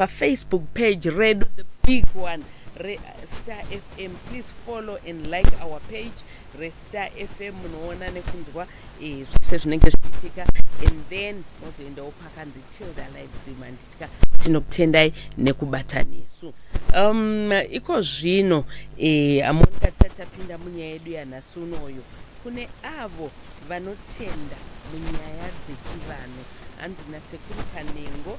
pafacebook page redu the big one restar fm please follow and like our page restar fm munoona nekunzwa eh, zvese zvinenge zvichiitika and then mozoendawo pakanzi tilda livesm anditika tinokutendai nekubata nesu um, iko zvino eh, amonika tisati tapinda munyaya yedu yanhasi unoyo kune avo vanotenda munyaya dzechivanhu hanzi nasekuru kanengo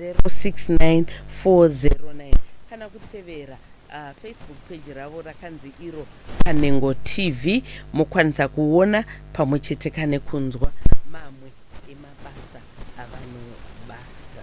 069409 kana kutevera uh, facebook page ravo rakanzi iro kanengo tv mokwanisa kuona pamwe chete kane kunzwa mamwe emabasa avanobata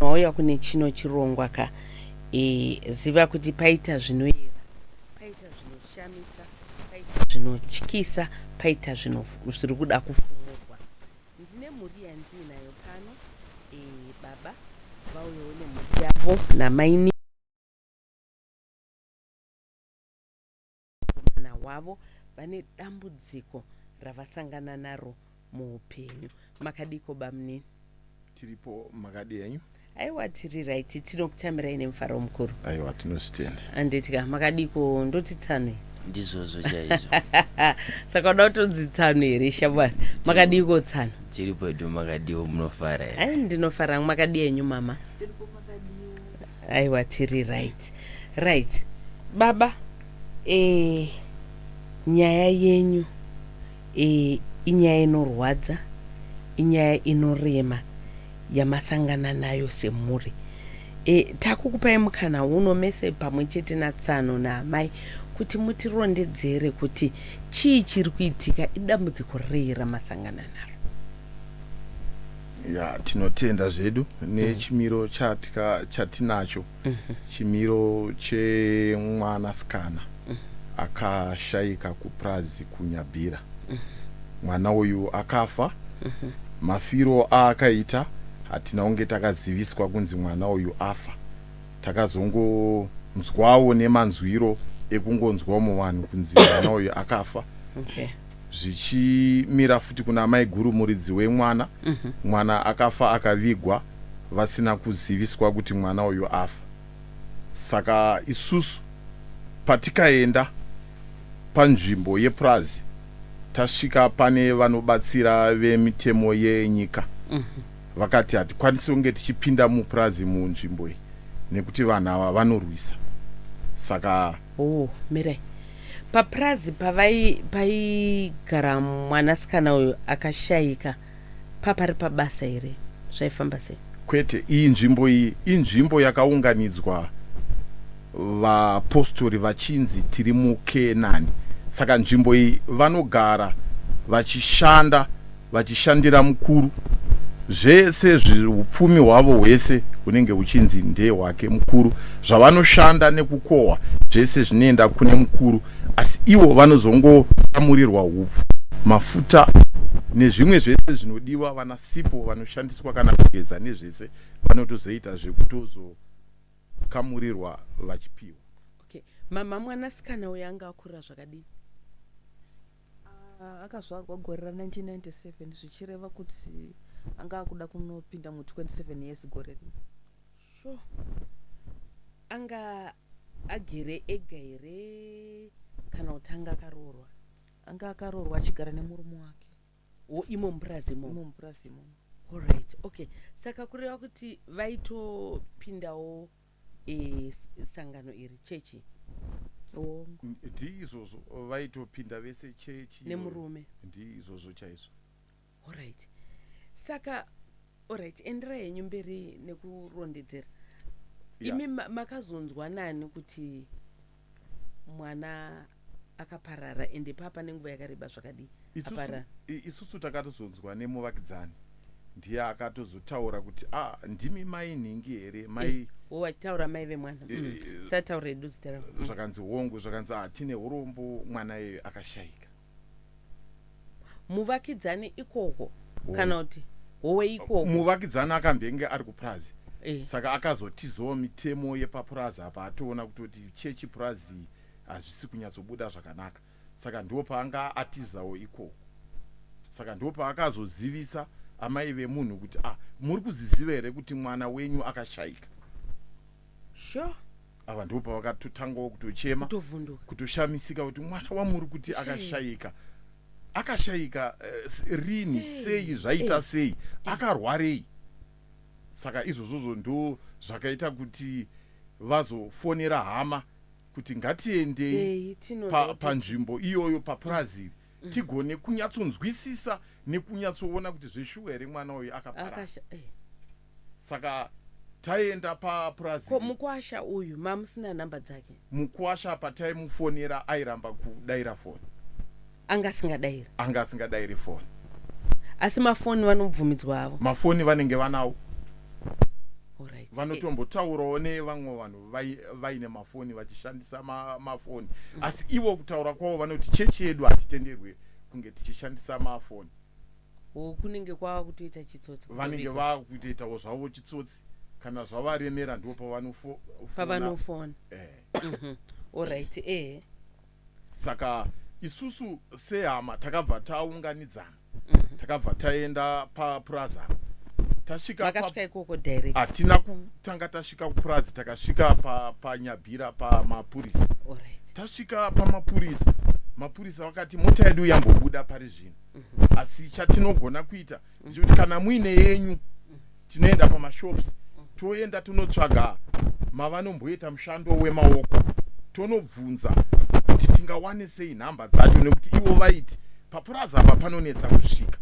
wauya kune chino chirongwa ka e, ziva kuti paita zvinoyera paita zvinoshamisa paita zvinotyisa paita zviri kuda kufumurwa ndine mhuri yandiinayo pano e, baba vauyawo nemhuri yavo namaini nemukomana wavo vane dambudziko ravasangana naro muupenyu makadiko bamnini tiripo makadi henyu aiwa tiri raiti tinokutamirai nemufaro mukuru aiwa tinozvitenda anditika makadiko ndoti tsanwe ndizvozvo chaizvo saka uda kutonzi tsano here shamwari makadiiko tsano tiri pedu makadiwo munofara here ndinofara makadi enyu mama Aiwa tiri right right baba eh, nyaya yenyu eh, inyaya inorwadza inyaya inorema yamasangana nayo semhuri eh, takukupai mukana uno mese pamwe chete natsano naamai kuti mutirondedzere kuti chii chiri kuitika idambudziko rei ramasangana naro ya tinotenda zvedu nechimiro chatika chatinacho chimiro chemwana sikana akashaika kupurazi kunyabhira mwana uyu akafa mafiro aakaita hatina kunge takaziviswa kunzi mwana uyu afa takazongonzwawo nemanzwiro ekungonzwawo muvanhu kunzi mwana uyu akafa Okay. zvichimira futi kuna amaiguru muridzi wemwana mm -hmm. mwana akafa akavigwa vasina kuziviswa kuti mwana uyu afa saka isusu patikaenda panzvimbo yepurazi tasvika pane vanobatsira vemitemo yenyika mm -hmm. vakati hatikwanisi kunge tichipinda mupurazi munzvimbo iyi nekuti vanhu ava vanorwisa saka oh, mirai Papurazi paigara mwanasikana uyu akashaika papari pabasa here? Zvaifamba sei? Kwete, iyi nzvimbo iyi inzvimbo yakaunganidzwa vapostori vachinzi tiri muKenani. Saka nzvimbo iyi vanogara vachishanda vachishandira mukuru zvese upfumi hwavo hwese hunenge huchinzi ndehwake mukuru zvavanoshanda nekukohwa zvese zvinoenda kune mukuru asi ivo vanozongotamurirwa upfu mafuta nezvimwe zvese zvinodiwa vana sipo vanoshandiswa kana kugeza nezvese vanotozoita zvekutozokamurirwa vachipiwa okay. mama mwanasikana uyo anga akura zvakadini Ah, akazvarwa gore ra 1997 zvichireva kuti anga akuda kunopinda mu 27 years gore rino sure anga agere ega here kana kuti anga akaroorwa anga akaroorwa achigara nemurume wake wo imo mupurazi imomo imo mupurazi imomo Alright, okay. Saka kureva kuti vaitopindawo sangano iri chechi hongu ndiizvozvo vaitopinda vese chechi nemurume ndiizvozvo chaizvo orit saka orit endera henyu mberi nekurondedzera imi makazonzwa nani kuti mwana akaparara ende papa nenguva yakareba zvakadii aparara isusu takatozonzwa nemuvakidzani ndiye akatozotaura kuti a ah, ndimi mai nhingi here mai eh, oh, achitaura mai vemwana eh, mm. eh, sataura edu zita ravo mm. zvakanzi hongu zvakanzi hatine ah, urombo mwana iye akashaika muvakidzani ikoko kana kuti howe ikoko muvakidzani akambenge ari kupurazi eh. saka akazotizawo mitemo yepapurazi apa atoona kutoti chechi purazi hazvisi kunyatsobuda zvakanaka saka ndo paanga atizawo ikoko saka ndo paakazozivisa amai vemunhu kuti ah muri kuziziva here kuti mwana wenyu akashaika sure ava ndipo pavakatotangawo kutochema tovhunduka kutoshamisika kuti mwana wamuri kuti Shame. akashaika akashaika eh, s- rini Sei? sei zvaita Eh. sei akarwarei saka izvozvozvo ndo zvakaita kuti vazofonera hama kuti ngatiendei Dei, tinoda pa- kuti- panzvimbo iyoyo papurazi iri Mm. tigone kunyatsonzwisisa nekunyatsoona kuti zveshuwa here mwana uyu akaparara Akasha- eh. Saka taienda papurazi. Ko mukwasha uyu mamusina number dzake? Mukwasha pataimufonera airamba kudaira foni. Anga asingadairi? Anga asingadairi foni. Asi mafoni vanobvumidzwa havo? Mafoni vanenge vanawo. Alright. Vanotombotaurawo nevamwe vanhu vaine mafoni vachishandisa ma, mafoni mm. Asi ivo kutaura kwavo vanoti chechi yedu hatitenderwe kunge tichishandisa mafoni. Or kunenge kwava kutoita chitsotsi kuto vanenge bika. vava kutoitawo zvavo chitsotsi kana zvavaremera ndipo pavanofo- fona. Pavanofona. Eh. Mhm. Alright, ehe. saka isusu sehama takabva taunganidzana Mhm. takabva taenda papurazi apa tasvika pa- Makasvika ikoko direct. hatina kutanga tasvika kupurazi takasvika pa- panyabhira pamapurisa Alright. tasvika pamapurisa mapurisa vakati mota yedu yambobuda pari zvino mhm. asi chatinogona kuita ndechekuti kana muine yenyu tinoenda pamashops toenda tonotsvaga mavanomboita mushando wemaoko tonobvunza kuti tingawane sei nhamba dzacho nekuti ivo vaiti papurazi apa panonetsa kusvika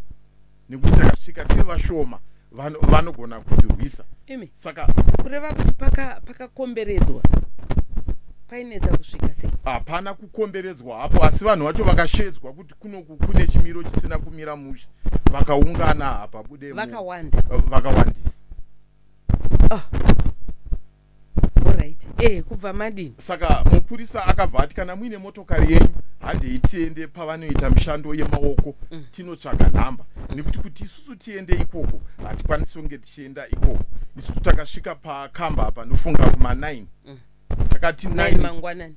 nekuti takasvika tiri vashoma vanogona kutirwisa imi saka kureva kuti pakakomberedzwa paka painetsa kusvika sei hapana kukomberedzwa hapo asi vanhu vacho vakashedzwa kuti kunoku kune chimiro chisina kumira mushe vakaungana hapa bude vakawanda vakawandisa oh. Alright. Eh, kubva madini? Saka mupurisa akabva ati kana muine motokari yenyu handei tiende pavanoita mishando yemaoko mm. tinotsvaga nhamba nekuti kuti isusu tiende ikoko hatikwanisi kunge tichienda ikoko isusu takasvika pakamba panofunga kuma 9 mm. takati 9 mangwanani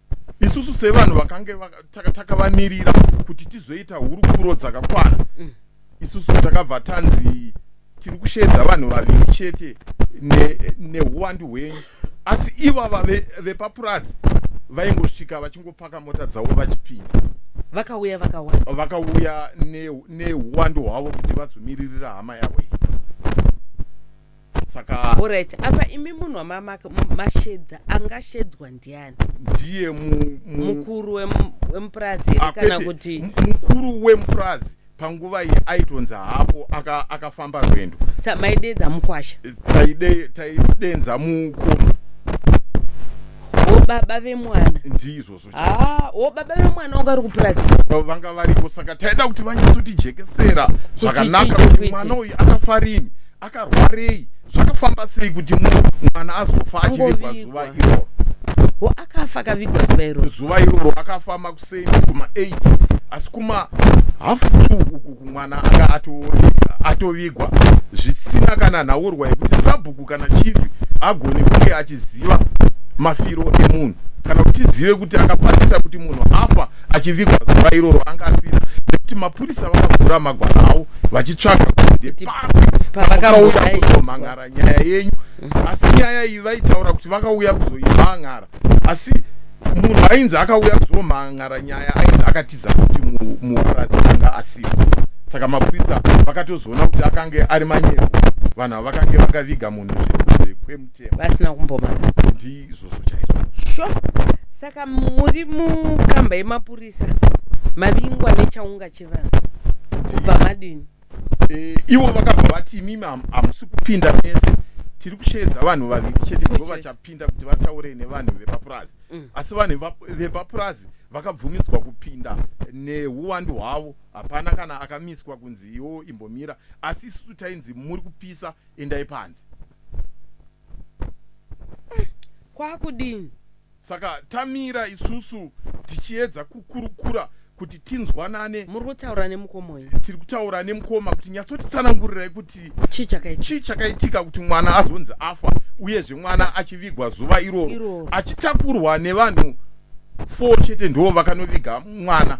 isusu sevanhu vakange takavamirira kuti tizoita hurukuro dzakakwana mm. isusu takabva tanzi tiri kusheedza vanhu vaviri chete neuwandu hwenyu asi ivava vepapurazi vaingosvika vachingopaka mota dzavo vachipinda vakauya vakawanda vakauya neuwandu hwavo kuti vazomiririra hama yavo iyi saka orit apa imi munhu wamamaka mashedza angashedzwa ndiani ndiye mukuru wemupurazi here ah, kana kuti mukuru wemupurazi panguva iyi aitonzi haapo akafamba aka rwendo maidenza mukwasha taidenza mukomo baba vemwana ndizvo Ah, wo baba vemwana wangu ari kupurazi Avo vanga varipo saka taida kuti vanyatsotijekesera zvakanaka chii, kuti kuti- mwana uyu akafa rini akarwarei zvakafamba sei kuti mu- mwana azofa achivigwa zuva Angovigwa. iroro wo akafa akavigwa zuva iroro zuva iroro akafa makuseni kuma 8 asi kuma half two uku mwana anga atovigwa zvisina kana nhaurwa yekuti sabhuku kana chifi agone kunge achiziva mafiro emunhu kana kuti tizive kuti akapazisa kuti munhu afa achivigwa zuva iroro anga asina nekuti mapurisa vakavhura magwara avo vachitsvaga kutipaakauya kuzomhan'ara nyaya yenyu asi nyaya iyi vaitaura kuti vakauya kuzoimhan'ara asi munhu ainzi akauya kuzomhan'ara nyaya ainzi akatiza kuti mupurazi anga asiwo saka mapurisa vakatozoona kuti akange ari manyepo vanhu ava vakange vakaviga munhu zvekunze kwemutemo vasina kumbomana ndizvozvo chaizvo sho saka muri mukamba yemapurisa mavingwa nechaunga chevanhu kubva madini e, ivo vakabva vati imimi hamusi kupinda mese tiri kusheedza vanhu vaviri chete ndivo vachapinda kuti vataure nevanhu vepapurazi mm. asi vanhu vepapurazi vakabvumidzwa kupinda neuwandu hwavo hapana kana akamiswa kunzi iwo imbomira asi isusu tainzi muri kupisa endai panze kwakudini Saka tamira isusu tichiedza kukurukura kuti tinzwanane. Muri kutaura nemukomoi? Tiri kutaura nemukoma kuti nyatsotitsanangurirai kuti chii chakaitika, chii chakaitika kuti mwana azonzi afa uyezve mwana achivigwa zuva iroro Iroro. achitakurwa nevanhu four chete ndivo vakanoviga mwana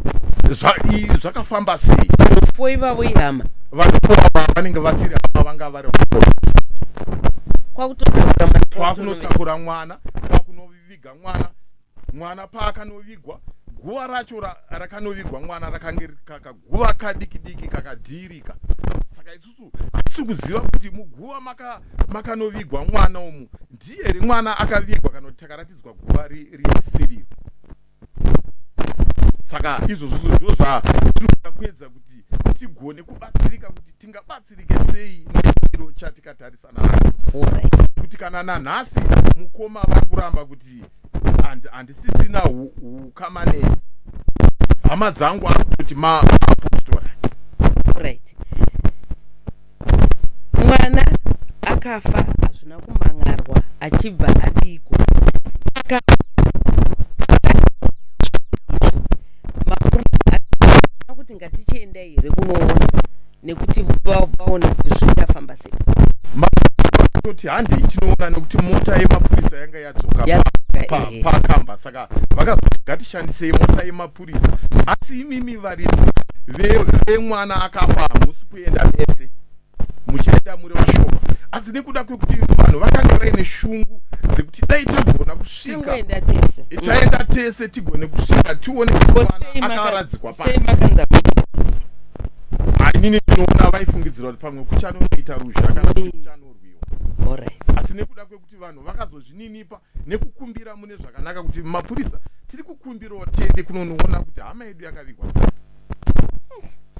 Zva, i, zvakafamba sei Fo ivavo ihama. vanhu four ava vanenge vasiri hama vanga vari kwakutotakura mwana. kwakunotakura mwana kwakunoviga mwana mwana paakanovigwa guva racho rakanovigwa mwana rakange kakaguva kadiki diki kakadhiirika saka isusu hatisi kuziva kuti muguva makanovigwa maka mwana umu ndiye here mwana akavigwa kana kuti takaratidzwa guva risiriro saka izvozvo ndizvo zvatiri kuda kuedza kuti tigone kubatsirika kuti tingabatsirike sei nechiro chatikatarisana kuti kana nanhasi mukoma vakuramba kuti handisisina ukama nei hama dzangu akutoti maapostora right mwana akafa hazvina kumhan'arwa achibva adiko saka kuti ngatichienda here kunoona nekuti vaona kuti zvichafamba sei toti handei tinoona nekuti mota yemapurisa yanga yadzoka pakamba saka vakazoti ngatishandisei mota yemapurisa kukurisa asi imimi varidzi vemwana ve akafa hamusi kuenda mese muchienda muri vashoma asi nekuda kwekuti vanhu vakanga vaine shungu dzekuti dai tagona kusvika taenda tese tigone kusvika tione akaradzikwa pa hainini tinoona vaifungidzira kuti pamwe kuchanonoita ruzha kana kuti kuchanorwiwa asi nekuda kwekuti vanhu vakazozvininipa nekukumbira mune zvakanaka kuti mapurisa tiri kukumbirawo tiende kunonoona kuti hama yedu yakavigwa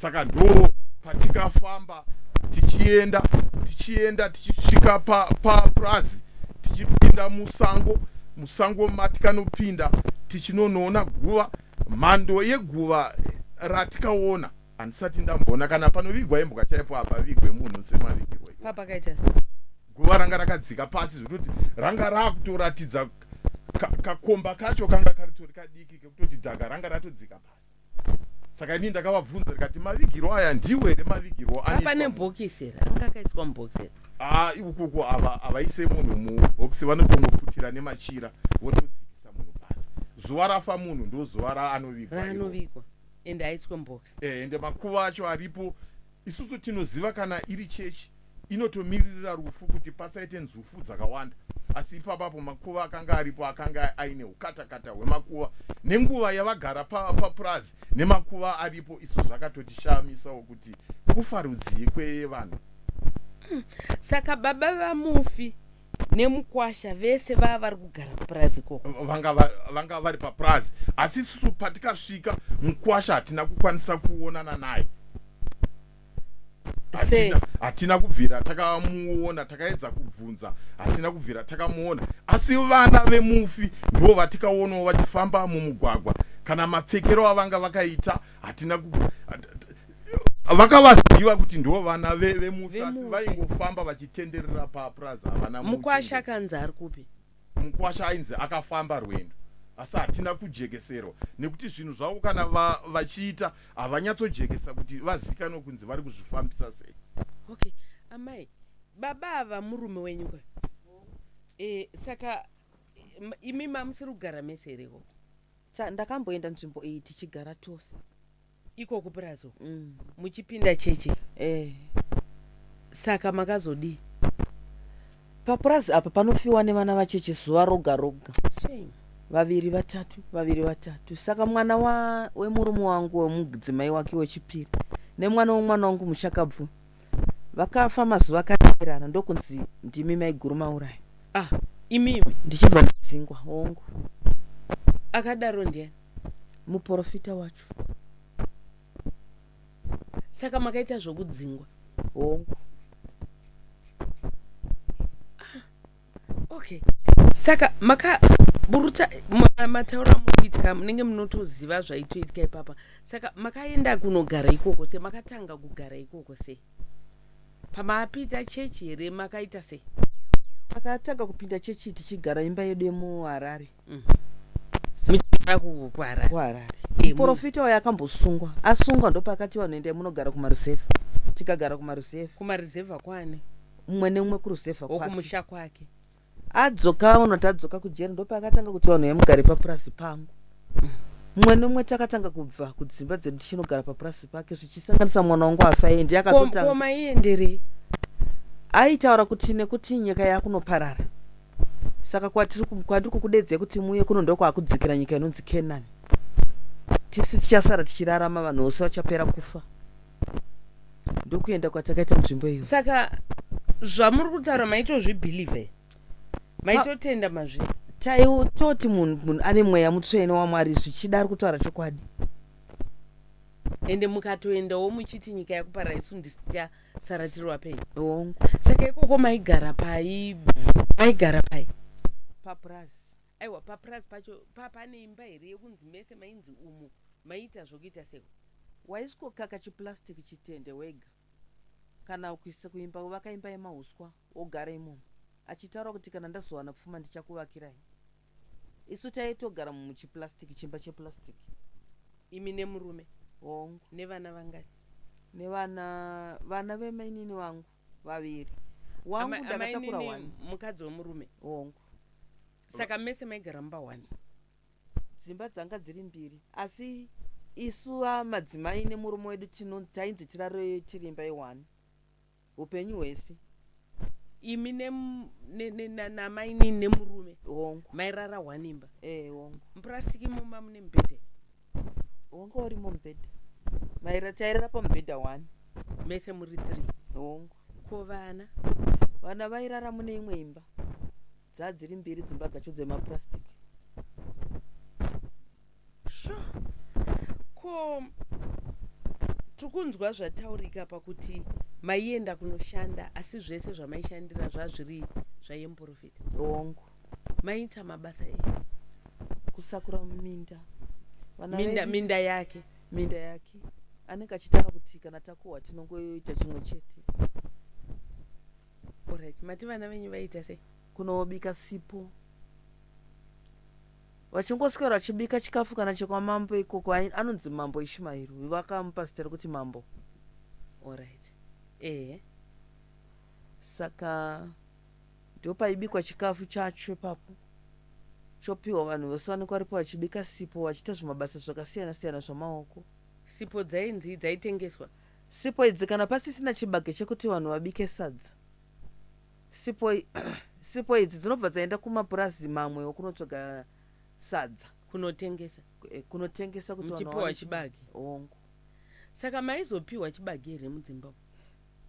saka ndo patikafamba tichienda tichienda tichisvika papurazi pa tichipinda musango musango matikanopinda tichinonoona guva mhando yeguva ratikaona handisati ndamboona kana panovigwa imbwa chaipo hapavigwe munhu semavigirwa papakaita guva ranga rakadzika pasi zvekutoti ranga raakutoratidza kakomba kacho kanga karitori kadiki kekutoti dhaga ranga ratodzika pasi saka inii ndakavabvunza rikati mavigirwo aya ndiwo here mavigirwo apane bhokisi here anga akaiswa mubhokisi here haa ikukuku ava havaise munhu mubhokisi vanotongoputira nemachira votodzikisa munhu pasi zuva rafa munhu ndozuva raanovigwa ende haiswe mubox eh, ende makuva acho aripo isusu tinoziva kana iri chechi inotomiririra rufu kuti pasaite nzufu dzakawanda asi ipapapo makuva akanga aripo akanga aine ukatakata hwemakuva nenguva yavagara papurazi pa nemakuva aripo isu zvakatotishamisawo kuti kufa rudzii kwevanhu hmm. saka baba vamufi nemukwasha vese vava vari kugara kupurazi ikoko vanga vari papurazi asi isusu patikasvika mukwasha hatina kukwanisa kuonana naye hatina kubvira takamuona takaedza kubvunza hatina kubvira takamuona asi vana vemufi ndivo vatikaonawo vachifamba mumugwagwa kana mapfekero avanga vakaita hatina vakavaziva kuti ndivo vana vemufi asi vaingofamba vachitenderera papurazi havana mukwasha akanzi ari kupi mukwasha ainzi akafamba rwendo asi hatina kujekeserwa nekuti zvinhu zvavo kana vachiita havanyatsojekesa kuti vazikanwe kunzi vari kuzvifambisa sei okay amai baba ava murume wenyu ka e, saka imi mamusiri kugara mese here ikoko Cha, ndakamboenda nzvimbo iyi tichigara tose iko kupurazi uko mm. muchipinda chechi eh. saka makazodii papurazi apa panofiwa nevana vacheche zuva roga roga shame vaviri vatatu vaviri vatatu saka mwana wa, wemurume wangu wemudzimai wake wechipiri nemwana wemwana wangu mushakabvu vakafa mazuva akateerana ndokunzi ndimi maiguru mauraya ah imimi ndichibva ndidzingwa hongu akadaro ndiani muprofita wacho saka makaita zvokudzingwa hongu okay saka makaburuta matauro amukuitika munenge munotoziva zvaitoitika ipapa saka makaenda kunogara ikoko se makatanga kugara ikoko se pamaapita chechi here makaita sei makatanga kupinda chechi tichigara imba yedu yemuharare muchigara ku- kuharare kuharare Eh, mu- muporofita uyo akambosungwa asungwa ndopakati vanhu endai munogara kumaruzevha tikagara kumaruzevha kumaruzevha kwani mumwe nemumwe kuruzevha kwake wokumusha kwake adzoka unoti adzoka kujeri ndopakatanga kuti vanhu vemugare papurazi pangu mumwe nemumwe takatanga kubva kudzimba dzedu tichinogara papurazi pake zvichisanganisa mwana wangu afa endi Ko- akatotanga koma ienderei aitaura kuti nekuti nyika yakunoparara saka kwatiri kwandiri kukudedzai kuti muuye kuno ndokwakudzikira nyika inonzi kenani tisi tichasara tichirarama vanhu vose vachapera kufa ndokuenda kwatakaita munzvimbo iyo saka zvamuri kutaura maitozvibhilivhe maitotenda mazvi taitoti munhu munhu ane mweya mutsvene wamwari zvichida ari kutaura chokwadi ende mukatoendawo muchiti nyika yakuparaisu ndisitichasara Sarah Tiruwapei. Hongu. Saka ikoko maigara pai maigara pai? Papurazi. Aiwa papurazi pacho papane imba here yekunzi mese mainzi umu maiita zvokuita seko. Waisvokaka chiplastic chitende wega kana kuisa kuimba kuvaka imba yemahuswa wogara imomo achitaura kuti kana ndazowana pfuma ndichakuvakirai. isu taitogara muchiplastic chimba cheplastic imi nemurume hongu nevana vangani nevana vana vemainini vangu vaviri wangu Ama- ndakatakura amainini one mukadzi wemurume hongu saka mese maigara mumba one dzimba dzanga dziri mbiri asi isu ah, madzimai nemurume wedu tino- tainzi tirare tirimba yewani Hupenyu hwese. Imi ne, ne, ne, na, namainini nemurume. Hongu. Mairara one imba. Eh, hongu. Muplastic imoma mune mubhedha. Hongu urimo mubhedha. Maira tairara pamubhedha one. Mese muri three. Hongu. Ko vana? Vana vairara mune imwe imba. dzadziri mbiri dzimba dzacho dzemapurastic sure. ko tiri kunzwa zvataurika pakuti maienda kunoshanda asi zvese zvamaishandira zvazviri zvayemprofita hongu mainitsa mabasa e kusakura minda minda minda yake minda yake anenge achitaura kuti kana takuhwa tinongoita chimwe chete Alright, mati vana venyu vaiita sei? Kunobika sipo. Vachingoswera vachibika chikafu kana chekwamambo ikoko anonzi mambo Ishmael. Uyu vakamupa zita rekuti mambo. Alright. Eh. Saka ndopaibikwa chikafu chacho ipapo chopiwa vanhu vose vanenge varipo vachibika sipo vachiita zvimabasa zvakasiyana siyana zvamaoko sipo dzainzi dzaitengeswa Sipo idzi kana pasisina chibage chekuti vanhu vabike sadza sipo, sipo idzi dzinobva dzaenda kumapurazi mamwe okunotsvaga sadza kunotengesa eh, kunotengesa kuti muchipiwa chibage hongu saka maizopiwa chibage here mudzimba uko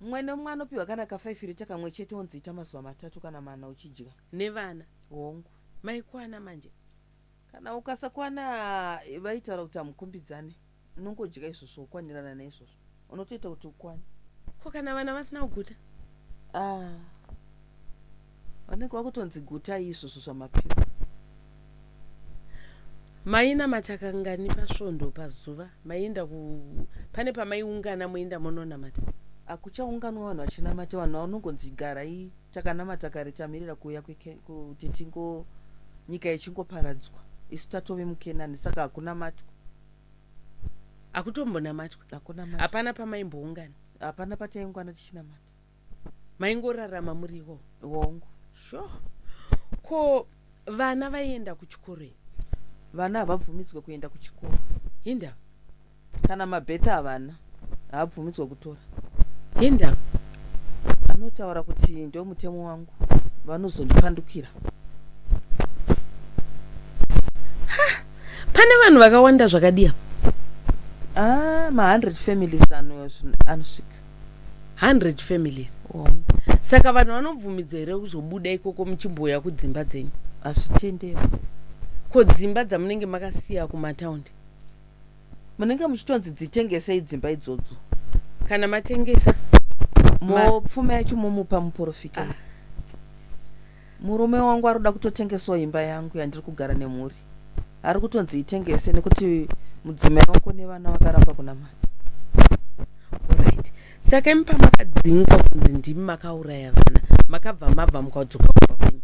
mumwe nemumwe anopiwa kana kafaifirita kamwe chete onzi ita mazuva matatu kana mana uchidya nevana hongu maikwana manje Kana ukasakwana vaitaura kuti hamukombidzane, unongodya izvozvo wokwanirana neizvozvo. Unotoita kuti ukwane. Ko kana vana vasina kuguta? Ah, vanenge vakutonzi gutai izvozvo zvamapiwa. Mainamata kangani pasvondo pazuva? Maienda ku pane pamaiungana moenda mononamata? Hakuchaunganwa vanhu vachinamata, vanhu vanongonzi garai takanamata kare tamirira kuuya kuti tingo nyika yechingoparadzwa isu tatove mukenani saka hakunamatwa akutombonamatwa hakunamata hapana pamaimboungana hapana pataingwana tichinamata maingorarama muriwo wongo sure ko vana vaienda kuchikoro vana havabvumidzwe kuenda kuchikoro hinda Kana mabheti havana, haabvumidzwe kutora. Enda vanotaura kuti ndomutemo wangu vanozondipandukira. Ha! Pane vanhu vakawanda zvakadii apa? Ah, ma 100 families ano anosvika. 100 families. Oh. Saka vanhu vanobvumidzwa here kuzobuda ikoko muchimbouya kudzimba dzenyu? Hazvitenderwi. Ko dzimba dzamunenge makasiya kumataundi? munenge muchitonzi dzitengesei dzimba idzodzo kana matengesa mopfuma yacho momupa muporofita ah. murume wangu ari kuda kutotengesawo imba yangu yandiri kugara nemhuri ari kutonzi itengese nekuti mudzimai wako nevana vakaramba kunamata right saka imi pamakadzingwa kunzi ndimi makauraya vana makabva mabva mukadzoka kumba kwenyu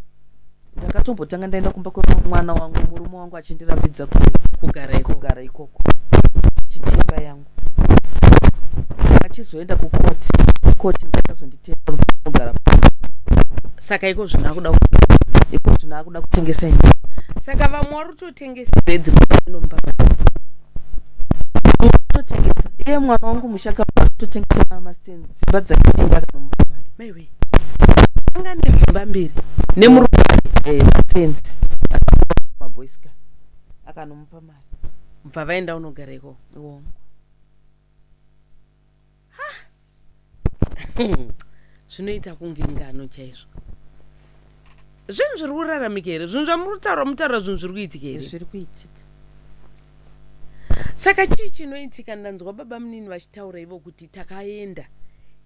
ndakatombotanga ndaenda kumba kwemwana wangu murume wangu achindirambidza kugara kugara ikoko chitimba yangu achizoenda kukoti koti ndakazonditenda kugara saka iko zvino akuda iko zvino akuda kutengesa ini saka vamwe vari tengesi bedzi totengesa iye mwana wangu mushaka totengesa namasten dzimba dzakapinda kana mupamari maiwe anga ne dzimba mbiri nemurume eh, mastenzi maboyska akanomupa mari bva vaenda unogareko iwongo hmm. zvinoita kunge ngano chaizvo zvinhu zviri kuraramika here zvinhu zvamuri kutaura mutaura zvinhu zviri kuitika here zviri kuitika saka chii chinoitika ndanzwa baba munini vachitaura ivo kuti takaenda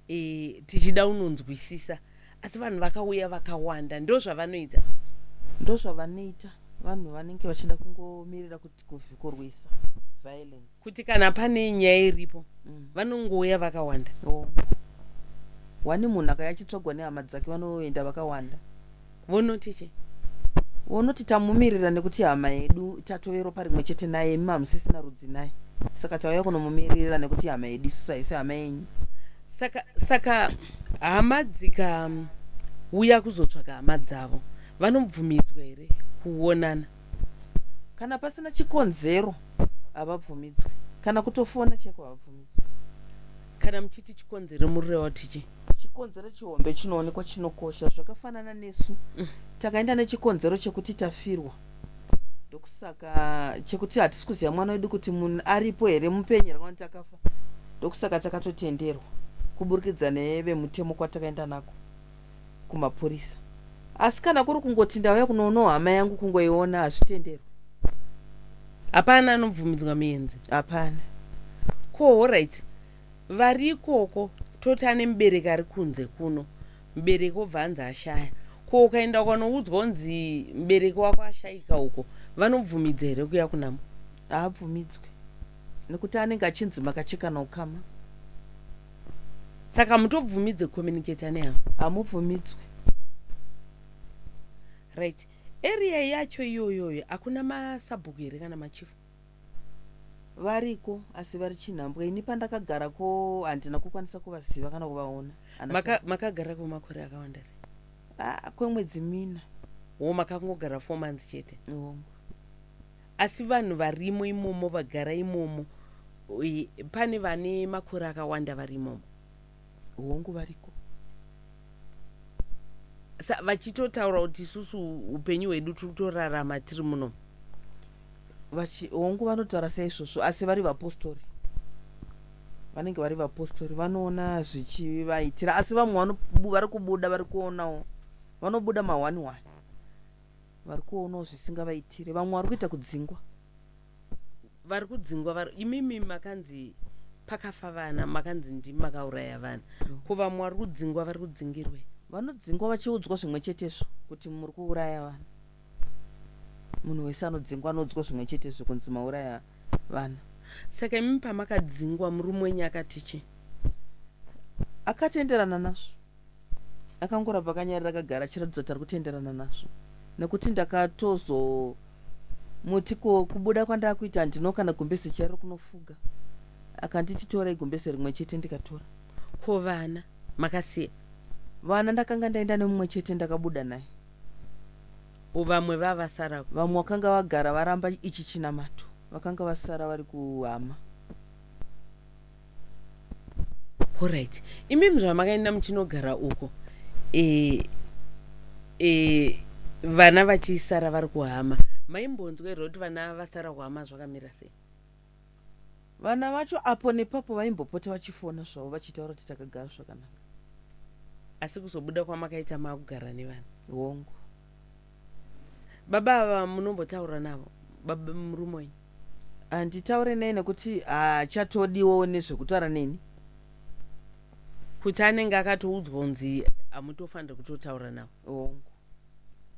e, tichida unonzwisisa asi vanhu vakauya vakawanda ndo zvavanoita ndo zvavanoita vanhu vanenge vachida kungomirira kuti kuvikorwisa violence kuti kana pane nyaya iripo mm. vanongouya vakawanda oh. wani munhu akaya achitsvagwa nehama dzake vanoenda vakawanda vonoti chii vonoti tamumirira nekuti hama yedu tatove ropa rimwe chete naye imi hamusisina rudzi naye saka tauya kunomumirira nekuti hama yedu isusu haisi hama yenyu saka saka hama dzikauya kuzotsvaga hama dzavo vanobvumidzwa here kuonana kana pasina chikonzero havabvumidzwe kana kutofona cheko havabvumidzwe kana muchiti chikonzero murireva kuti chii chikonzero chihombe chinoonekwa chinokosha zvakafanana nesu mm. takaenda nechikonzero chekuti tafirwa ndokusaka chekuti hatisi kuziva mwana wedu kuti munhu aripo here mupenyu here kana takafa ndokusaka takatotenderwa kuburikidza nevemutemo kwatakaenda nako kumapurisa asi kana kuri kungoti ndauya kunoonawo hama yangu kungoiona hazvitenderwe hapana anobvumidzwa muenzi hapana ko horit vari ikoko toti ane mubereki ari kunze kuno mubereki obva anzi ashaya ko ukaenda ukanoudzwa unzi mubereki wako ashaika uko vanobvumidza here kuya kunamo haabvumidzwe nekuti anenge achinzi makachekana ukama saka mutobvumidze communicator neavo hamubvumidzwe right area yacho iyoyoyo hakuna masabhuku here kana machifu variko asi vari chinhambwe ini pandakagara ko handina kukwanisa kuvaziva kana kuvaona makagara maka kwemakore akawanda se ah, kwemwedzi mina wo makangogara four months chete Asi vanhu varimo imomo vagara imomo pane vane makore akawanda vari imomo. Hongu variko. Sa vachitotaura kuti isusu upenyu hwedu tiri kutorarama tiri muno. Vachi hongu vanotaura seizvozvo asi vari vapostori. Vanenge vari vapostori vanoona zvichivaitira asi vamwe vari kubuda vari kuonawo vanobuda mahwani hwani. vari kuonawo zvisingavaitire vamwe vari kuita kudzingwa vari kudzingwa vari imimi makanzi pakafa vana makanzi ndimi makauraya vana mm. ko vamwe vari kudzingwa vari kudzingirwei vanodzingwa vachiudzwa zvimwe chetezvo kuti muri kuuraya vana munhu wese anodzingwa anoudzwa zvimwe chetezvo kunzi mauraya vana saka imimi pamakadzingwa murume wenyu akati chii akatenderana nazvo akangoramba akanyarira akagara achiratidza kuti ari kutenderana nazvo nekuti ndakatozomuti ko kubuda kwandakuita handino kana gumbeze chairo kunofuga akanditi tora igumbeze rimwe chete ndikatora ko vana makasiya vana ndakanga ndaenda nemumwe chete ndakabuda naye vamwe vavasara vamwe vakanga vagara varamba ichi chinamato vakanga vasara vari kuhama Horaiti, imimi zvamakaenda muchinogara uko e, e, vana vachisara vari kuhama maimbonzwa here kuti vana vasara kuhama zvakamira sei? Vana vacho apo nepapo vaimbopota vachifona zvavo vachitaura kuti takagara zvakanaka. Asi kuzobuda kwamakaita makugara nevana? Hongu. Baba ava munombotaura navo baba murume wenyu? Handitaure naye nekuti haachatodiwo nezvekutaura neni. Kuti anenge akatoudzwa kunzi hamutofanire kutotaura navo? Hongu.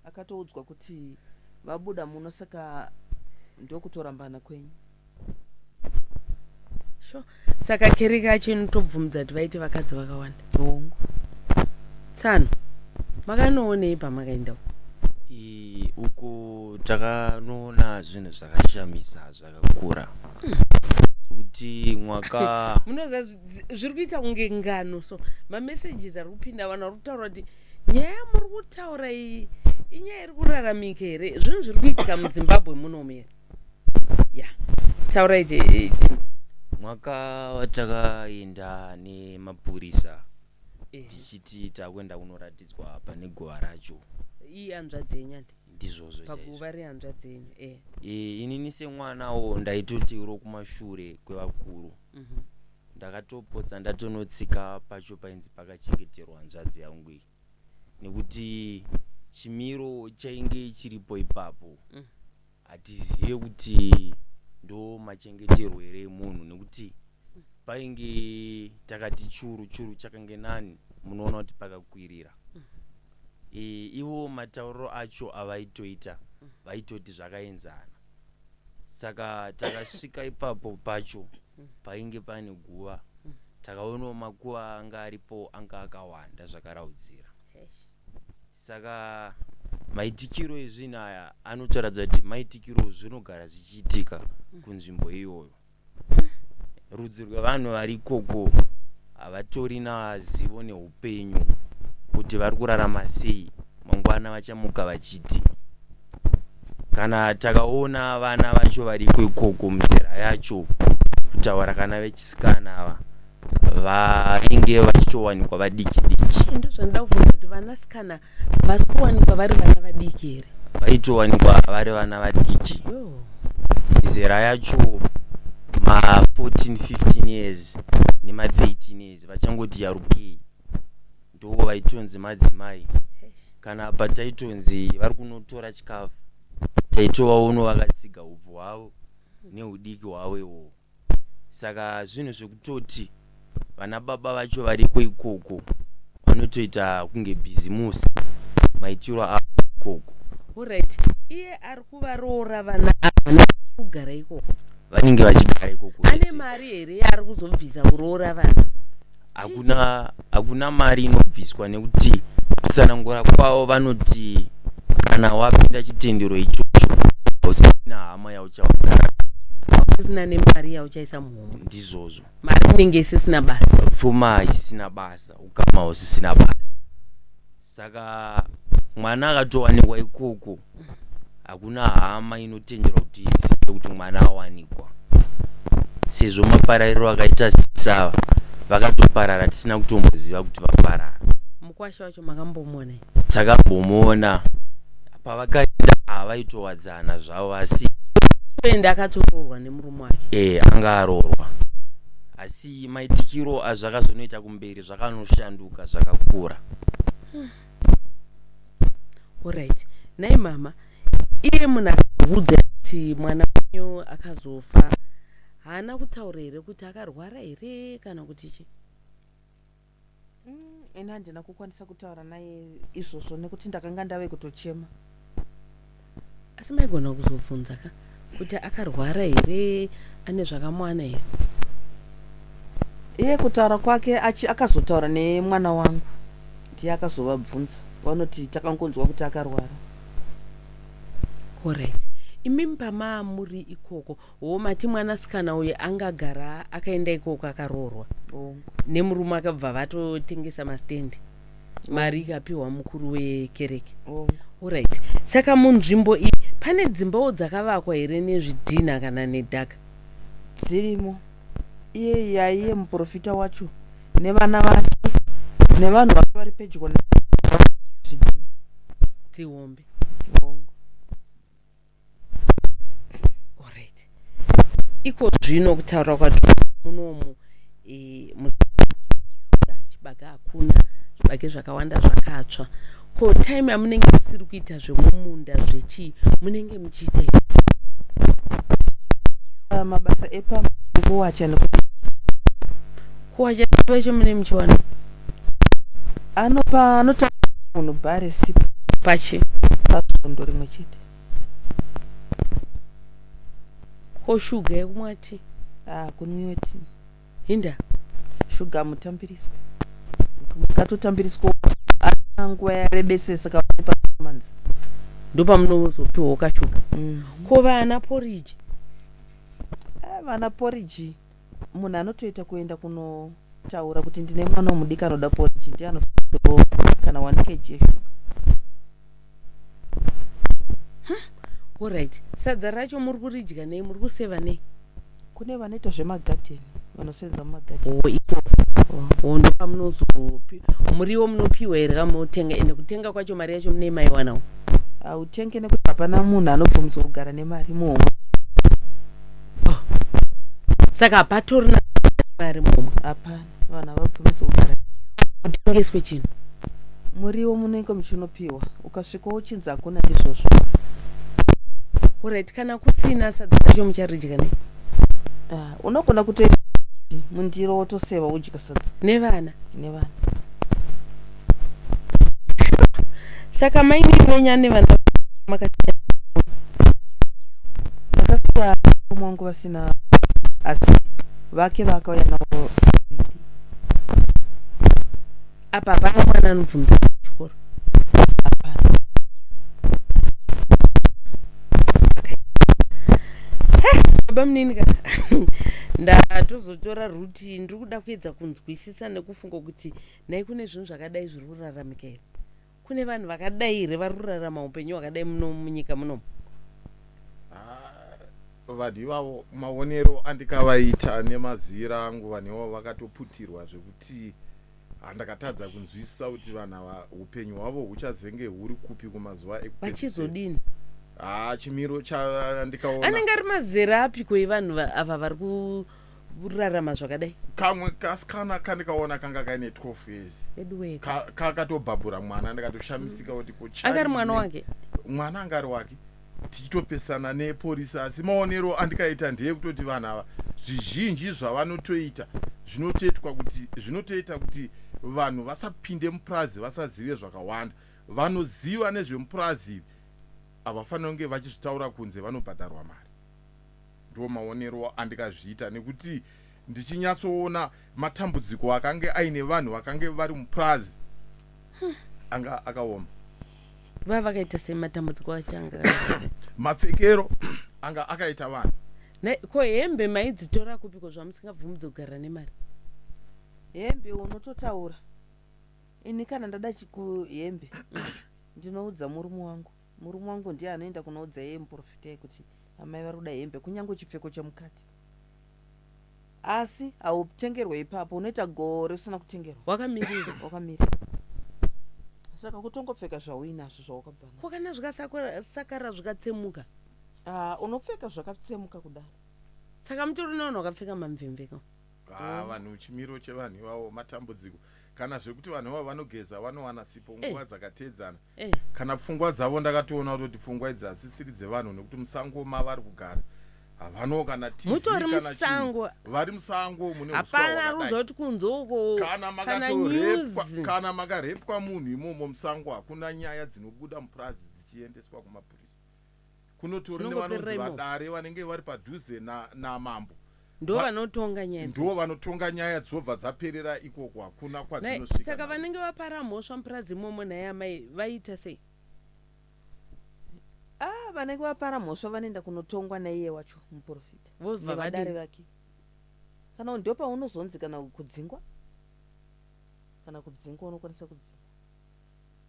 Akatoudzwa kuti vabuda muno saka ndokutorambana kwenyu. sure saka kereke yacho inotobvumidza kuti vaite vakadzi vakawanda hongu tsano makanoonei pamakaenda uko I- uko takanoona zvinhu zvakashamisa zvakakura kuti mwaka munoziva zvi- zviri kuita kunge ngano so mamessages ari kupinda vanhu vari kutaura kuti nyaya yamuri kutaura iyi inyaya iri kuraramika here zvinhu zviri kuitika muzimbabwe munomu here ya taurai mwaka watakaenda nemapurisa eh. tichiti takuenda kunoratidzwa pane guva racho iyi hanzvadzi yenyani ndizvozvo paguva rehanzvadzi yenyu eh. eh, inini semwanawo ndaitoti uro kumashure kwevakuru mhm. ndakatopotsa ndatonotsika pacho painzi pakachengeterwa hanzvadzi yangu iyi nekuti chimiro chainge chiripo ipapo mm. hatizive kuti ndo machengeterwo here emunhu nekuti painge takati churu churu chakange nani munoona kuti pakakwirira mm. e, ivo matauriro acho avaitoita vaitoti zvakaenzana saka takasvika ipapo pacho painge pane guva takaonawo makuva anga aripo anga akawanda zvakaraudzira saka maitikiro ezvinhu aya anotaradza kuti maitikiro zvinogara zvichiitika kunzvimbo iyoyo rudzi rwevanhu vari ikoko havatori nazivo neupenyu kuti vari kurarama sei mangwana vachamuka vachiti kana takaona vana vacho variko ikoko muzera yacho kutaura kana vechisikana ava vainge vachitowanikwa vadiki diki ndozvandida kuvhunza kuti vanasikana havasi kuwanikwa vari vana vadiki here vaitowanikwa vari vana vadiki mizera yacho ma14 15 years nema13 years vachangoti yarukei ndo vaitonzi madzimai kana pataitonzi vari kunotora chikafu taitovaono vakatsiga upo hwavo neudiki hwavo iwowo saka zvinhu zvekutoti vana baba vacho variko ikoko vanotoita kunge bhizimusi maitiro avo ikoko orit iye ari kuvaroora vana ava kugara ikoko vanenge vachigara ikoko ane mari here yaari kuzobvisa kuroora vana hakuna hakuna mari inobviswa nekuti kutsanangura kwavo vanoti kana wapinda chitendero ichocho hausisina hama yauchaudzana hausisina nemari yauchaisa muhomwe ndizvozvo mari inenge isisina basa pfuma isisina basa ukama hausisina basa saka mwana akatowanikwa ikoko hakuna hama inotenderwa kuti izive kuti mwana awanikwa sezvo maparariro akaita sisava vakatoparara tisina kutomboziva kuti vaparara mukwasha wacho makambomona takambomona pavakaenda havaitowadzana zvavo asi ende akatoroorwa nemurume wake e anga aroorwa asi kuti maitikiro azvakazonoita kumberi zvakanoshanduka zvakakura orit nhai mama iye munhu akaudza kuti mwana wenyu akazofa haana kutaura here kuti akarwara here kana kuti chii Mm, ini handina kukwanisa kutaura naye izvozvo nekuti ndakanga ndave kutochema asi maigona kuzobvunza ka kuti akarwara here ane zvakamuwana here iye kutaura kwake achi- akazotaura nemwana wangu ndiye akazovabvunza vanoti takangonzwa kuti akarwara Alright. Imimi pamaamuri ikoko wo mati mwanasikana uyu anga agara akaenda ikoko akaroorwa Hongu. nemurume akabva vatotengesa mastendi mari ikapiwa mukuru wekereke Hongu. orit saka munzvimbo iyi pane dzimbawo dzakavakwa here nezvidhinha kana nedhaka dzirimo iye yaiye muprofita wacho nevana vake nevanhu vake vari pedyo na- dzihombe Hongu. iko zvino kutaura kwati munomu e, chibage hakuna zvibage zvakawanda zvakatsva ko time yamunenge musiri kuita zvemumunda zvechii munenge muchiita ah, mabasa epamkuwacha nekuwacha kuwacha mune muchiwana anopa anota munhu bare sipo pachi pasvondo rimwe chete ko shuga yekumwa ti ah kunwiwa ti hinda shuga mutambiriswa mukatotambiriswa nguva yarebesesa kaone pamanzi ndopamunozopiwawo kashuga mm. ko vana poriji ah, vana poriji munhu anotoita kuenda kunotaura kuti ndine mwana womudiki anoda poriji ndiye anotooo kana one kg yeshuga orit sadza racho muri kuridya nei muri kuseva nei kune vanoita zvemagadheni vanosenza mumagadheni oh, ikoko oh, ndopamunozopi muriwo munopiwa here kamunotenga ende kutenga kwacho mari yacho mune maiwanawo hautenge nekuti hapana munhu anobvumidzwa kugara nemari muhomwe oh. saka hapatorina mari mumwe hapana vanhu havabvumise kugara kutengeswe chinhu muriwo munenge muchinopiwa ukasvika uchinzi hakuna ndizvozvo orit kana kusina sadza racho mucharidya nei ah, unogona kutoisa mundiro wotoseva udya nevana nevana saka maini venyu ane vana makasiya vakasiya mukoma wangu vasina asi vake vaakauya navo apa hapana mwana anobvunza kuchikoro hapana baba munini ka ndatozotora root but ndiri kuda kuedza kunzwisisa nekufunga kuti nhai kune zvinhu zvakadai zviri kuraramika here kune vanhu vakadai here vari kurarama upenyu hwakadai muno munyika munomu vanhu ivavo maonero andikavaita nemazira angu vanhu ivavo vakatoputirwa zvekuti handakatadza kunzwisisa kuti vanhu ava upenyu hwavo huchazenge huri kupi kumazuva ekuvachizodini haa chimiro chandikaona anenge ari mazera apiko evanhu ava vari ku ah, rarama zvakadai kamwe kasikana kandikaona kanga kaine 12 years kakatobhabhura mwana ndikatoshamisika kuti kuanga ari mwana wake mwana anga ari wake tichitopesana neporisi asi maonero andikaita ndeye kutoti vanhu ava zvizhinji zvavanotoita zvinotoitwa kuti zvinotoita kuti vanhu vasapinde mupurazi vasazive zvakawanda vanoziva nezvemupurazi ivi havafanira kunge vachizvitaura kunze vanobhadharwa mari Ndiwo maonero andikazviita nekuti ndichinyatsoona matambudziko akange aine vanhu vakange vari mupurazi hmm. anga akaoma vava vakaita sei matambudziko achanga mapfekero anga akaita vanhu ko hembe maidzitora kupiko zvamusingabvumudze kugara nemari hembe unototaura ini kana ndada chikuhembe ndinoudza murume wangu Murume wangu ndiye anoenda kunoudza iye muporofita kuti amai vari kuda hembe kunyange chipfeko chemukati asi hautengerwe ipapo unoita gore usina kutengerwa wakamirira wakamirira saka kutongopfeka zvauinazvo zvawakabva nazvo ko kana zvikasakara zvikatsemuka Ah, unopfeka zvakatsemuka kudaro saka mutori navanhu vakapfeka mamvemveka Ah, vanhu chimiro chevanhu ivawo matambudziko kana zvekuti vanhu ivavo vanogeza vanowana sipo eh. nguva dzakateedzana eh. kana pfungwa dzavo ndakatoona kutoti pfungwa idzi hadzisiri dzevanhu nekuti musango mavari kugara havanawo kana mutori musango vari musango mune hapana kuzoti kunzo uko kana makatorepwa kana makarepwa munhu imomo musango hakuna nyaya dzinobuda mupurazi dzichiendeswa kumapurisa kunotori nevanonzi vadare vanenge vari padhuze namambo na ndo vanotonga nyaya ndo vanotonga nyaya dzobva dzaperera ikoko hakuna kwadzinosvika saka vanenge vapara mhosva mupurazi imomo naye amai vaita sei ah vanenge vapara mhosva vanoenda kunotongwa naiye wacho muprofita nevadare vake kana ndo paunozonzi kana kudzingwa kana kudzingwa unokwanisa kudzingwa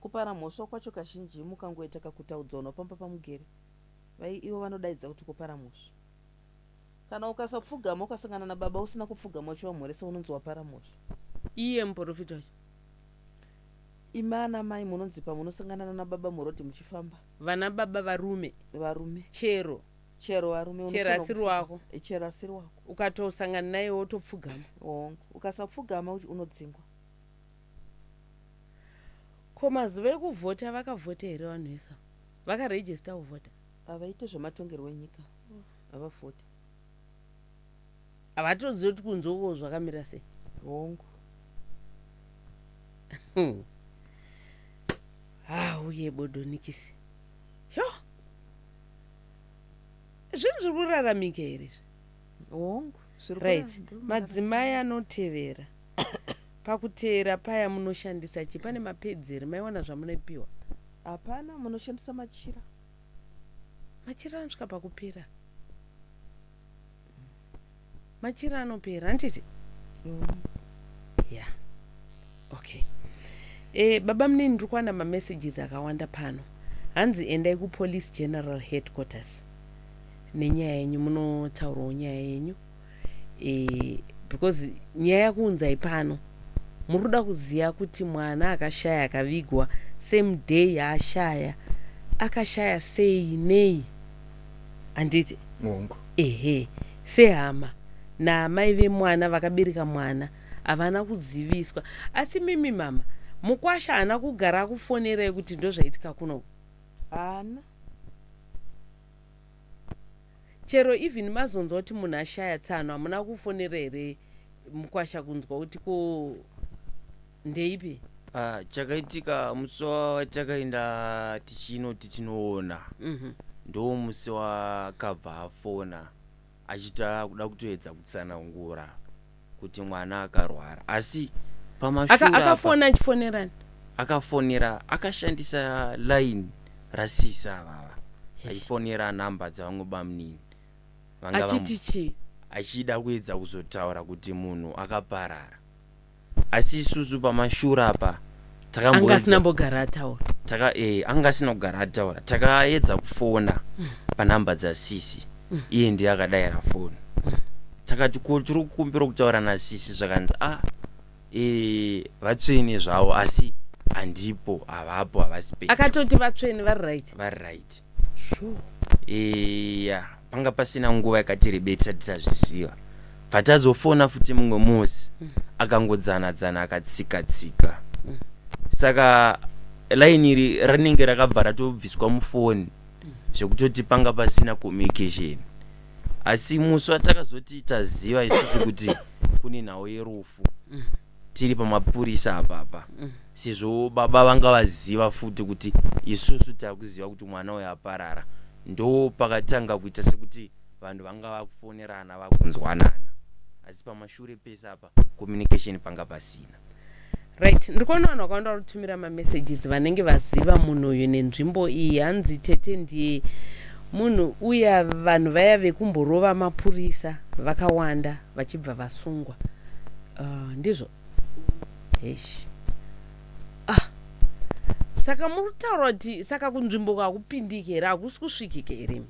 Kupara mhosva kwacho kazhinji mukangoita kakutaudzaunwa pamba pamugere vaye ivo vanodaidza kuti kupara mhosva. Kana ukasapfugama ukasangana nababa usina kupfugama uchivamhoresa unonzi wapara mhosva. Iye muporofita wacho. Imi ana mai munonzi pamunosangana nana baba muroad muchifamba. Vana baba varume. Varume. Chero. Chero varume. Chero asiri wako. Eh, chero asiri wako. Ukatosangana naye wotopfugama. Hongu. Ukasapfugama unodzingwa. Ko mazuva ekuvhota vakavhota here vanhu vese ava? Vakaregister kuvhota? Havaite zvematongerwo enyika, havavhoti. Havatozivi kuti kunze uko zvakamira sei. Hongu. Ha, uye bodonikisi. Yo! Zvinhu zviri kuraramika here izvi? Hongu, zviri Right. kuramba. Madzimai anotevera. Pakuteera paya munoshandisa chi pane mapads here maiwana zvamunoipiwa. Hapana munoshandisa machira. Machira anosvika pakupera. Machira anopera handiti? Mm. Yeah. Okay. Eh, baba munini ndiri kuwana mamessages akawanda pano. Hanzi endai kupolice general headquarters nenyaya yenyu munotaurawo nyaya yenyu. e, because nyaya yakuunzai pano muri kuda kuziva kuti mwana akashaya akavigwa same day yaashaya akashaya sei nei handiti hongu ehe sehama naamai vemwana vakabereka mwana havana kuziviswa asi mimi mama mukwasha haana kugara akufonerai kuti ndozvaitika kuno haana Chero even mazonzwa kuti munhu ashaya tsano hamuna kufonera here mkwasha kunzwa kuti ko ndeipi. Ah, chakaitika musi watakaenda tichinoti tinoona Mhm. ndoo musi wakabva afona achita kuda kutoedza kutsanangura kuti mwana akarwara asi pamashura Aka, akafona achifonerani akafonera akashandisa line rasisa avava achifonera nhamba dzavamwe bamunini achiti chii achida kuedza kuzotaura kuti munhu akaparara asi isusu pamashura apa anga asina mbogara ataura taka eh anga asina kugara ataura takaedza kufona mm. panhamba dzasisi mm. iye ndiye akadaira foni mm. takati ko tiri kukumbira kutaura nasisi zvakanzi a ah, eh vatsvene zvavo asi handipo havapo havasi pe akatoti vatsvene vari right vari right eya panga pasina nguva yakati rebei tisati tazviziva patazofona futi mumwe musi mm. akangodzana dzana akatsika tsika mm. saka line iri rinenge rakabva ratobviswa mufoni mm. zvekutoti panga pasina communication asi musi watakazoti taziva isusu kuti kune nhau yerufu tiri pamapurisa apapa mm. sezvo baba vanga vaziva futi kuti isusu takuziva kuti mwana uyo aparara ndo pakatanga kuita sekuti vanhu vanga vakufonerana vakunzwanana asi pamashure pese apa communication panga pasina right ndiri kuona vanhu vakawanda vari kutumira mamessages vanenge vaziva munhu uyu nenzvimbo iyi hanzi tete ndiye munhu uya vanhu vaya vekumborova mapurisa vakawanda vachibva vasungwa uh, ndizvo hesh ah saka muri kutaura kuti saka kunzvimbo kakupindike here hakusi kusvikike here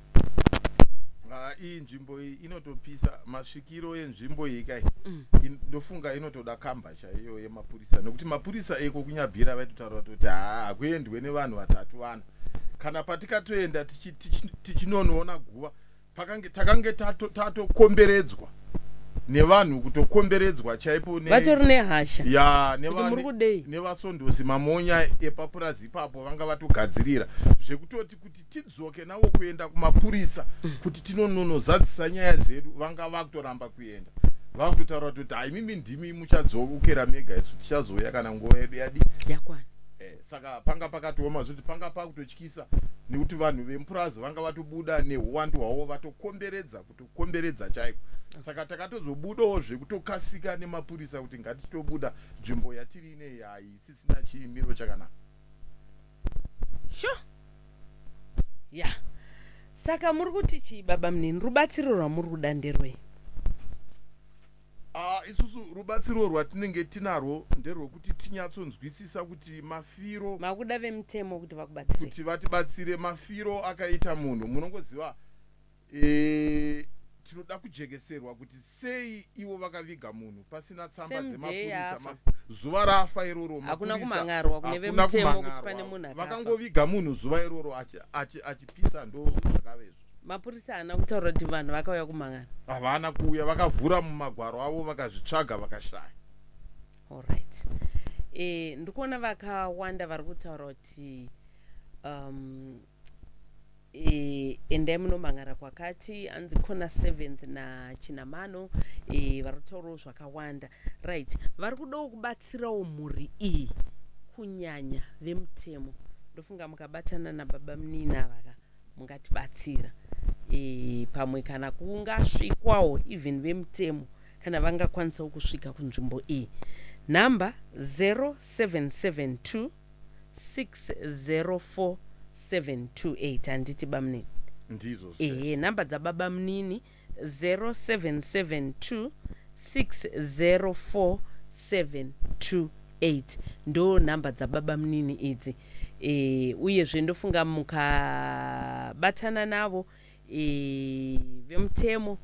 ah, iyi nzvimbo iyi inotopisa masvikiro enzvimbo iyi kai mm. ndofunga inotoda kamba chaiyo yemapurisa nekuti mapurisa eko kunyabhira vaitotaura kuti haa hakuendwe nevanhu vatatu vana kana patikatoenda tichinonoona guva pakange takange tatokomberedzwa nevanhu kutokomberedzwa chaipo vatori nehasha ya nevasondosi mamonya epapurazi ipapo vanga vatogadzirira zvekutoti kuti tidzoke navo kuenda kumapurisa mm. kuti tinononozadzisa nyaya dzedu vanga vakutoramba kuenda vakutotaura kuti haimimi ndimi muchadzokera mega isu tichazouya kana nguva yedu yadi yakwana eh, saka panga pakatooma zvekuti panga pakutochi kisa nekuti vanhu vemupurazi vanga vatobuda neuwandu hwavo vatokomberedza kutokomberedza chaiko saka takatozobudawo zvekutokasika nemapurisa kuti ngatitobuda nzvimbo yatiri inei haisisina chimiro chakanaka sure ya yeah. saka muri kuti chii baba munini rubatsiro rwamuri kuda nderwei Uh, isusu rubatsiro rwatinenge tinarwo nderwekuti tinyatsonzwisisa kuti mafiro makuda vemutemo kuti vakubatsire kuti vatibatsire mafiro akaita munhu munongoziva e, tinoda kujekeserwa kuti sei ivo vakaviga munhu pasina tsamba dzemapurisa zuva rafa iroro hakuna kumangarwa kune vemutemo kuti pane munhu vakangoviga munhu zuva iroro achipisa ndo zvakavezvo mapurisa haana kutaura kuti vanhu vakauya kumangana havana kuuya vakavhura mumagwaro avo vakazvitsvaga vakashaya allright e, eh, ndikuona vakawanda vari kutaura kuti um, e, endai munomangara kwakati anzi kona seventh nachinamano e, eh, vari kutaurawo zvakawanda right vari kudawo kubatsirawo mhuri iyi kunyanya vemutemo ndofunga mukabatana nababa muninavaka mungatibatsira e, pamwe kana kungasvikwawo even vemutemo kana vangakwanisawo kusvika kunzvimbo iyi nhamba 0772 604728 handiti bamunini ndizvo ehe nhamba dzababa munini 0772 604728 ndo nhamba dzababamunini idzi e, uyezve ndofunga mukabatana navo e, vemutemo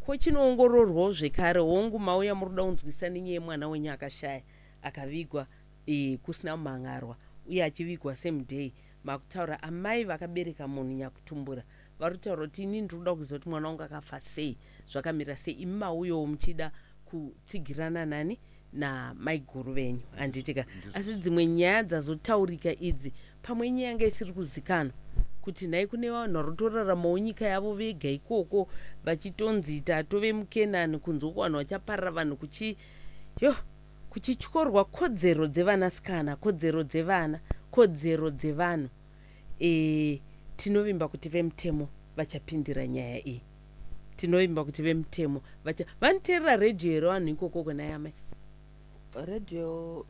ko chinoongororwawo zvekare hongu mauya muri kuda kunzwisisa nenyaya yemwana wenyu akashaya akavigwa e, kusina kumhan'arwa uye achivigwa same day makutaura amai vakabereka munhu nyakutumbura Varikutaura kuti inini ndirikuda kuziva kuti mwana wangu akafa sei zvakamira sei imi mauyowo muchida kutsigirana nani namaiguru venyu handitika asi dzimwe nyaya dzazotaurika idzi pamwe inyaya yanga isiri kuzikanwa kuti nhai kune vanhu vari kutoraramawo nyika yavo vega ikoko vachitonzi tatove mukenani kunzwa ko vanhu vachaparira vanhu kuchi yo kuchityorwa kodzero dzevanasikana kodzero dzevana kodzero dzevanhu e, tinovimba kuti vemutemo vachapindira nyaya iyi tinovimba kuti vemutemo vacha vanoteerera radio here vanhu ikokoko naye amai radio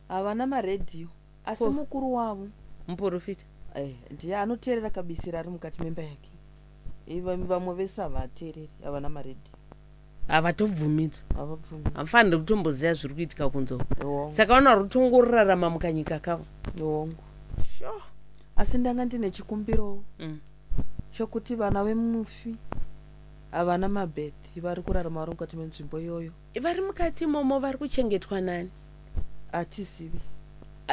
havana maradio asi mukuru wavo muporofita eh, ndiye anoteerera kabisira ari mukati memba yake vamwe vese havateereri havana maredhi havatobvumidza havafanire kutomboziva zviri kuitika kunzoo saka vanoari kutongorarama mukanyika kavo hongu sure. asi ndanga ndine chikumbiro mm. chokuti vana vemufi havana mabedhi vari kurarama vari mukati menzvimbo iyoyo vari mukati imomo vari kuchengetwa nani hatizivi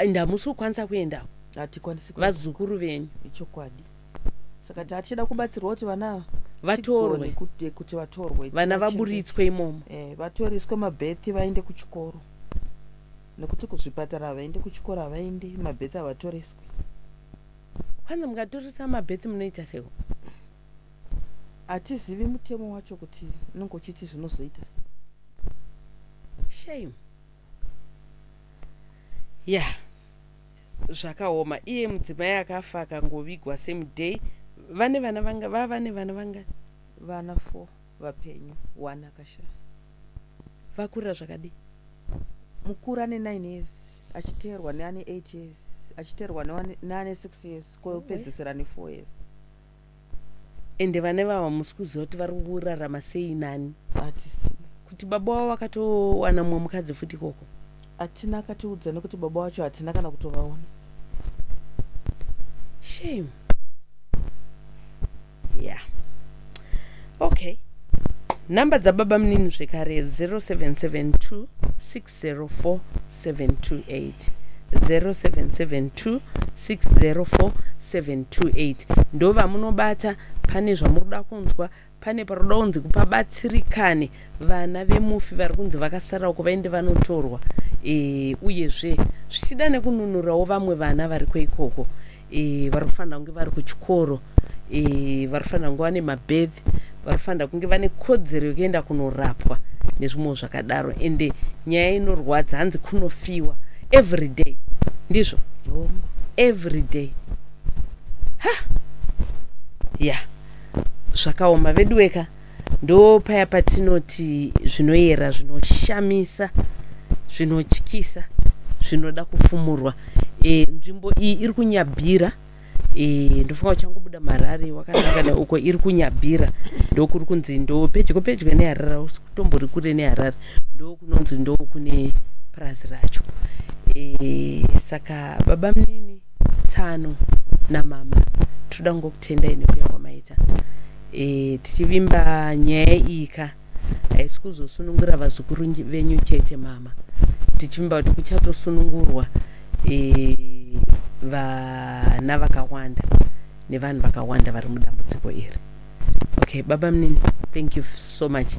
ndamusi kukwanisa kuendako hatikwanisi vazukuru venyu ichokwadi saka tatichada kubatsirwa kuti vana ava Vatorwe. tigone kuti- kuti vatorwe vana Tina vaburitswe imomo chimbe- eh, vatoriswe mabhethi vaende kuchikoro nekuti kuzvipatara havaendi kuchikoro havaendi mabhethi havatoriswi kwanza mukatoresa mabhethi munoita seiko hatizivi mutemo wacho kuti unenge uchiti zvinozoita sei. shame ya zvakaoma iye mudzimai akafa akangovigwa same day vane vana vanga vava vane vana vangani vana four vapenyu one akashaya vakurira zvakadii mukuru ane nine years achiteerwa neane eight years achiteerwa neane- neane six years kopedzesera nefour years ende vana ivavo hamusi kuziva kuti vari kurarama sei nani hatisi kuti baba wavo vakatowana mumwe mukadzi futi ikoko hatina akatiudza nekuti baba wacho hatina kana kutovaona shame yeah okay number dzababa munini zvekare 0772 0772604728 ndovamunobata pane zvamuri kuda kunzwa pane paroda kunzi kupabatsirikane vana vemufi vari kunzi vakasara uko vaende vanotorwa e, uyezve zvichida nekununurawo vamwe vana variko ikoko e, vari kufanira kunge vari kuchikoro e, vari kufanira kunge vane mabedhi vari kufanira kunge vane kodzero yekuenda kunorapwa nezvimwewo zvakadaro ende nyaya inorwadza hanzi kunofiwa every day ndizvo every day ha ya yeah. zvakaoma veduweka Ndoo paya patinoti zvinoyera zvinoshamisa zvinotyisa zvinoda kufumurwa e, nzvimbo iyi iri kunyabhira e, ndofunga uchangobuda marari wakanangana uko iri kunyabhira ndokuri kunzi ndo pedyo pedyo neharare ausi kutombori kure neharare ndo kunonzi ndo kune purazi racho e, saka baba munini tsano namama tinoda kungokutendai nekuya kwamaita e, tichivimba nyaya iyi ka haisi kuzosunungura vazukuru venyu chete mama tichivimba kuti kuchatosunungurwa e, vana vakawanda nevanhu vakawanda vari mudambudziko iri okay baba mnini thank you so much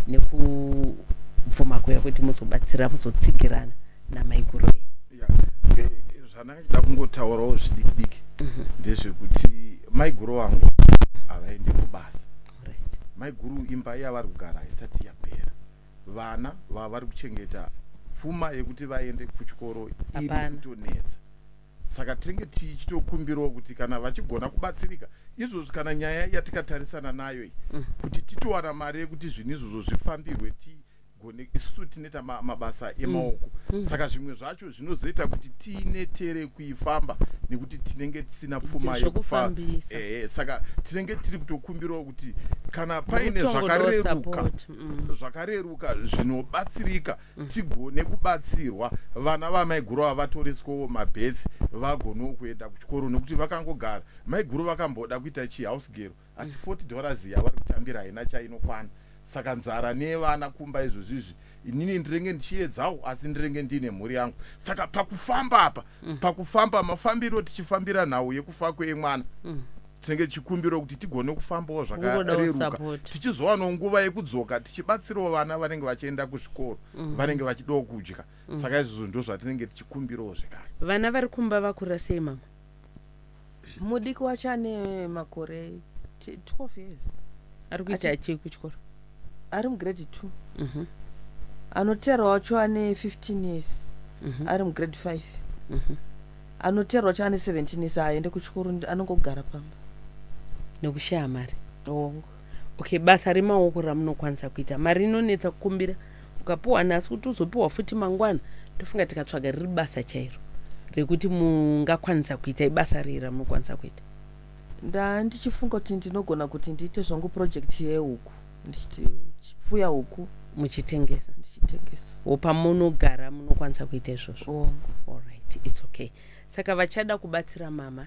nekubvuma kuya kuti muzobatsira muzotsigirana namaiguru venyu aida kungotaurawo zvidiki diki mhm. ndezvekuti maiguru vangu havaendi kubasa maiguru imba yavari kugara haisati yapera vana vavari kuchengeta pfuma yekuti vaende kuchikoro iri kutonetsa saka tinenge tichitokumbirawo kuti kana vachigona kubatsirika izvozvi kana nyaya yatikatarisana nayo iyi mm. kuti titowana mari yekuti zvinhu izvozvo zvifambirwe gone isusu tinoita ma, mabasa mm. emaoko mm. mm. saka zvimwe zvacho zvinozoita kuti tiinetere kuifamba nekuti tinenge tisina pfuma yekufamba eh, saka tinenge tiri kutokumbirawo kuti kana paine zvakareruka mm. zvakareruka zvinobatsirika mm. tigone kubatsirwa vana vamaiguru ava vatoreswawo mabeth vagonewo kuenda kuchikoro nekuti vakangogara maiguru vakamboda kuita chihouse gero asi 40 dollars yavari kutambira haina chainokwana saka nzara nevana kumba izvozvizvi inini ndirenge ndichiedzawo asi ndirenge ndiine mhuri yangu saka pakufamba apa mm. pakufamba mafambiro tichifambira nhau yekufa kwemwana mm. tinenge tichikumbirawo kuti tigone kufambawo zvakareruka tichizowanawo nguva yekudzoka tichibatsirawo vana vanenge vachienda kuzvikoro mm. vanenge vachidawo kudya saka izvozvo ndo zvatinenge tichikumbirawo zvekare vana vari kumba vakura sei mama mudiki wacho ane makore 12 years ari kuita chii kuchikoro ari mugrade 2 mhm. anoteera wacho ane 15 years mhm. ari mugrade 5 mhm. anoteera wacho ane 17 years haaende kuchikoro anongogara pamba nekushaya mari oh. Okay, basa remaoko ramunokwanisa kuita mari inonetsa kukumbira ukapiwa nhasi kuti uzopiwa futi mangwana ndofunga tikatsvaga riri basa chairo rekuti mungakwanisa kuita ibasa rei ramunokwanisa kuita ndandichifunga kuti ndinogona kuti ndiite zvangu project yehuku ndichipfuya huku muchitengesa ndichitengesa wo pamunogara munokwanisa kuita izvozvo oh. alright its okay saka vachada kubatsira mama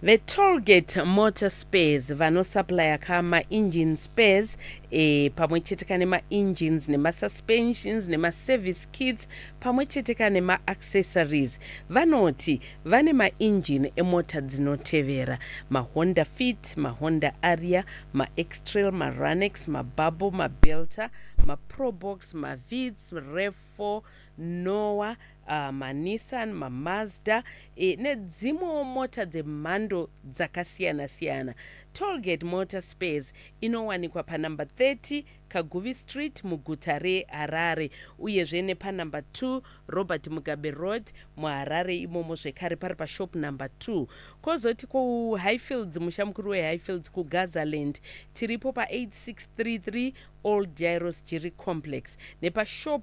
VeTollgate Motor Spares vanosupplier ka ma engine spares eh, pamwe chete ka nema engines nema suspensions nema service kits pamwe chete ka nema accessories. Vanoti vane ma engine emota dzinotevera, ma Honda Fit, ma Honda Aria, ma X-Trail, ma Ranex, ma Bubble, ma Belter, ma Probox, ma Vitz, Rev4, Noah, uh, maNissan, maMazda e, nedzimwewo mota dzemhando dzakasiyana-siyana. Tollgate Motor Spares inowanikwa panumber 30 Kaguvi Street muguta reHarare uyezve nepanumber 2 Robert Mugabe Road muHarare imomo zvekare pari pashop number 2. Kozoti kuHighfields, musha mukuru weHighfields kuGazaland, tiripo pa8633 Old Jairos Jiri Complex nepashop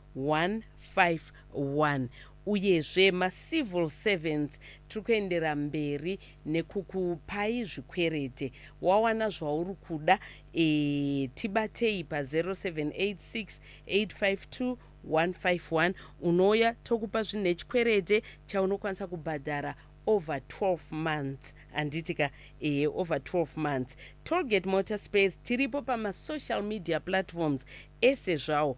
151 uyezve macivil servants tiri kuendera mberi nekukupai zvikwerete wawana zvauri kuda ee tibatei pa 0786852151 unouya tokupa zvinhu nechikwerete chaunokwanisa kubhadhara over 12 months handiti ka ehe over 12 months tollgate motor space tiripo pamasocial media platforms ese zvawo